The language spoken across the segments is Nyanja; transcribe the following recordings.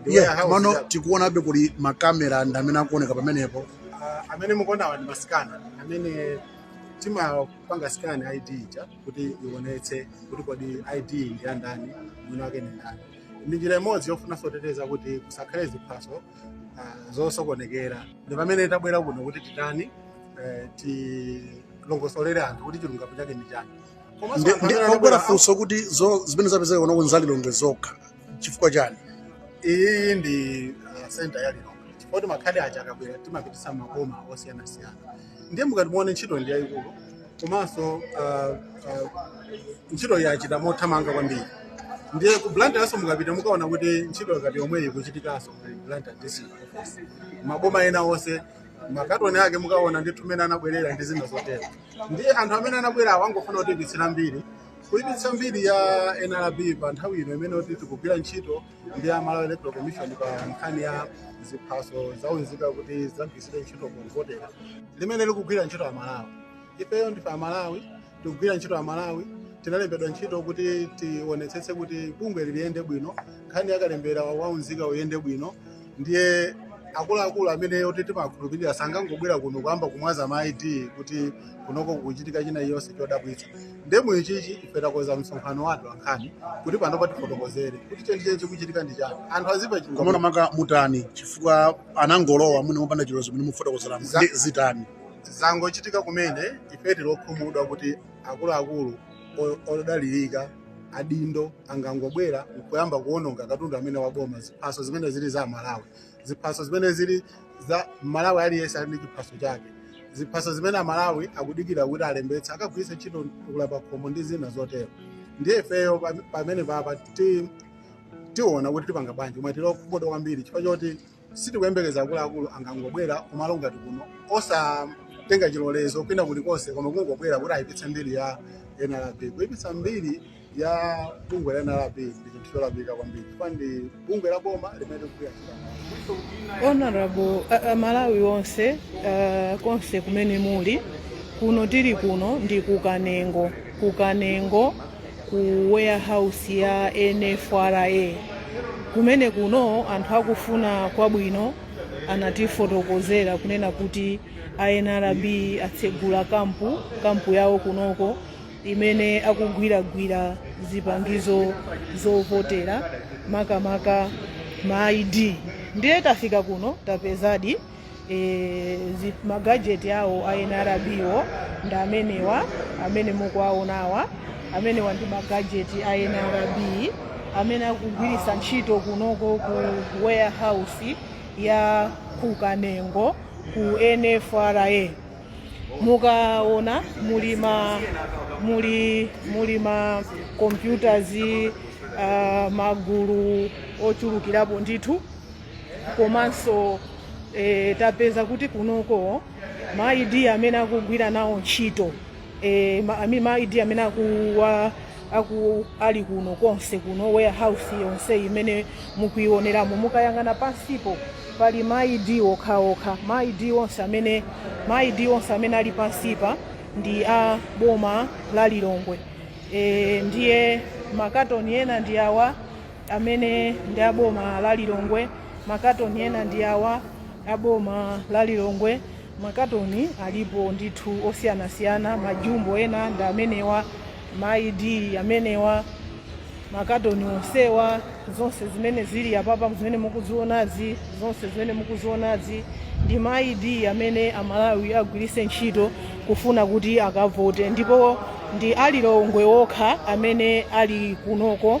Ndi iye warehouse komano ya- tikuonabe kuli makamera ndi amene akuoneka pamenepo Ah, amene mukuonawa ndi masikanala amene timapanga scan id ija kuti ionetse kuti kodi id ndi ya ndani mwini wake ndi ndani ndi njira imodzi yofuna soteteza kuti kusakhale ziphaso ah, zosokonekera ndi pamene tabwera kuno kuti titani eh, tilongosolere anthu kuti chilungamo chake nchani Komanso Ndi- anthu ndi- amene pogwera anabwera- funso kuti zo- zimene zapezeka kuno ndi za Lilongwe zokha chifukwa chani iyi ndi ah, center ya lilongwe chifukwa kuti makhadi aja akabwera timapititsa m'maboma osiyanasiyana ndiye mukati muone ntchito ndi yayikulu komanso ah, ah, ntchito yachitika mothamanga kwambiri ndiye ku blantyrenso mukapita mukaona kuti ntchito ngati yomweyi ikuchitikanso ku blantyre district office maboma ena onse makatoni ake mukaona ndithu mmene anabwerera ndi zina zotero ndiye anthu amene anabwera awa angofuna kutiipitsira mbiri kuipitsa mbiri ya nrb pa nthawi ino imene kuti tikugwira ntchito ndi a malawi electoral commission pa nkhani ya ziphaso zaunzika kuti zidzagwiritsidwe ntchito povotera limene likugwira ntchito amalawi ifeyo ndife amalawi tikugwira ntchito amalawi tinalembedwa ntchito kuti tionetsetse kuti bungwe liliyende bwino nkhani yakalembera waunzika uyende bwino ndiye akuluakulu amene oti timakhulupirira sangangobwera kuno kuyamba kumwaza ma id kuti kunoko kukuchitika china chilichonse chodabwitsa ndiye mu ichichi ife takonza msonkhano wa atolankhani kuti panopa tifotokozere kuti chenicheni chikuchitika ndi chani anthu adziwe chilungamo komano makamu mutani chifukwa anangolowa mwina mopanda chilolezo mene mukufotokozeramo Za- ndi zitani zangochitika kumene ife tili okhumudwa kuti akuluakulu o- odalirika adindo sangangobwera nkuyamba kuononga katundu amene waboma ziphaso zimene zili za amalawi ziphaso zimene zili za mmalawi aliyense ali ndi chiphaso chake ziphaso zimene amalawi akudikira kuti alembetse akagwiritse ntchito kuvota pakhomo ndi zina zotero ndiye ifeyo pam- pamenepapa ti- tiona kuti tipanga bwanji koma tili okhumudwa kwambiri chifukwa choti sitikuyembekeza akuluakulu angangobwera kumalo ngati kuno osatenga chilolezo kwina kulikonse koma kungobwera kuti ayipitse mbiri ya nrb kuyipitsa mbiri ya bungwe la nrb ndi chinthu cholakwika kwambiri chifukwa ndi bungwe la boma limene likugwira ntchito amalawi honorable uh, amalawi nonse uh, konse kumene muli kuno tili kuno ndi ku kanengo ku kanengo ku warehouse ya NFRA kumene kuno anthu akufuna kwabwino anatifotokozera kunena kuti a NRB atsegula kampu kampu yawo kunoko imene akugwiragwira zipangizo zovotera makamaka ma ID ndiye tafika kuno tapezadi e, zi- magajeti awo a nrbwo ndi amenewa amene mukuwaonawa amenewa ndi magajeti a nrb amene akugwiritsa ntchito kunoko ku warehouse ya kukanengo ku nfra mukaona muli ma muli muli ma computers uh, magulu ochulukirapo ndithu komanso e, tapeza kuti kunoko ma ID amene akugwira nawo ntchito e, ma, ami- ma ID amene akuwa aku ali kuno konse kuno warehouse yonse imene mukuioneramo mukayang'ana pansipo pali ma ID okhaokha ma ID onse amene ma ID onse amene ali pansipa ndi a boma la Lilongwe e, ndiye makatoni ena ndi awa amene ndi a boma la lilongwe makatoni ena ndi awa a boma la lilongwe makatoni alipo ndithu osiyanasiyana majumbo ena ndi amenewa ma id amenewa makatoni onsewa zonse zimene zili apapa zimene mukuzionazi zonse zimene mukuzionazi ndi ma id amene amalawi agwiritse ntchito kufuna kuti akavote ndipo ndi a lilongwe okha amene ali kunoko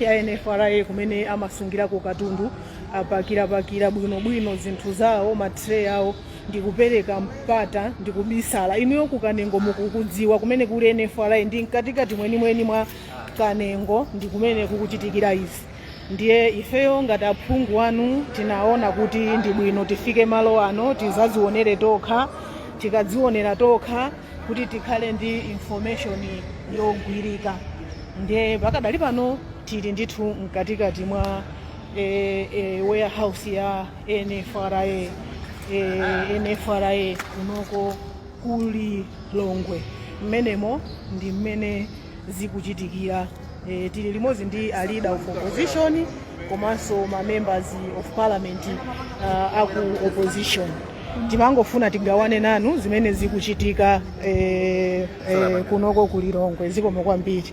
ya NFRA kumene amasungirako katundu apakirapakira bwinobwino zinthu zawo matray awo ndikupereka mpata ndikubisala inuyo ku kanengo mukukudziwa kumene kuli NFRA ndi mkatikati mwenimweni mwa kanengo ndi kumene kukuchitikira izi ndiye ifeyo ngati aphungu anu tinaona kuti ndi bwino tifike malo ano tizazionere tokha tikadzionera tokha kuti tikhale ndi information yogwirika ndiye pakadali pano tili ndithu mkatikati mwa e, e, warehouse ya nfra e, nfra kunoko ku lilongwe mmenemo ndi mmene zikuchitikira e, tili limodzi ndi a leader of opposition komanso ma members of parliament uh, aku opposition timangofuna tigawane nanu zimene zikuchitika eh, eh, kunoko ku lilongwe zikomo kwambiri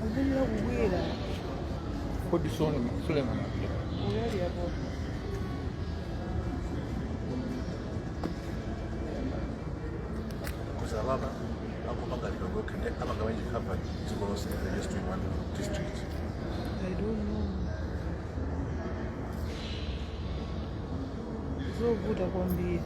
Kukulira kukwera. Kodi sona Suleiman Abdul. Unali apo. kuza baba akupanga lidogo kende abanga wenye hapa ziko lose in the just in one district I don't know. Zovuta kwambiri.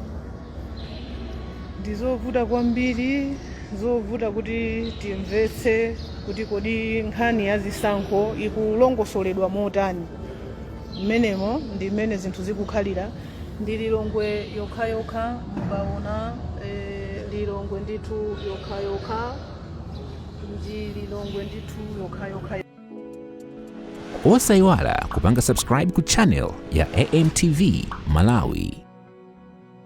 ndi zovuta kwambiri zovuta kuti timvetse kuti kodi nkhani ya zisankho ikulongosoledwa motani mmenemo ndi mmene zinthu zikukhalira ndi lilongwe yokhayokha mukaona eh, lilongwe ndithu yokhayokha ndi lilongwe ndithu yokhayokha osayiwala kupanga subscribe ku channel ya amtv malawi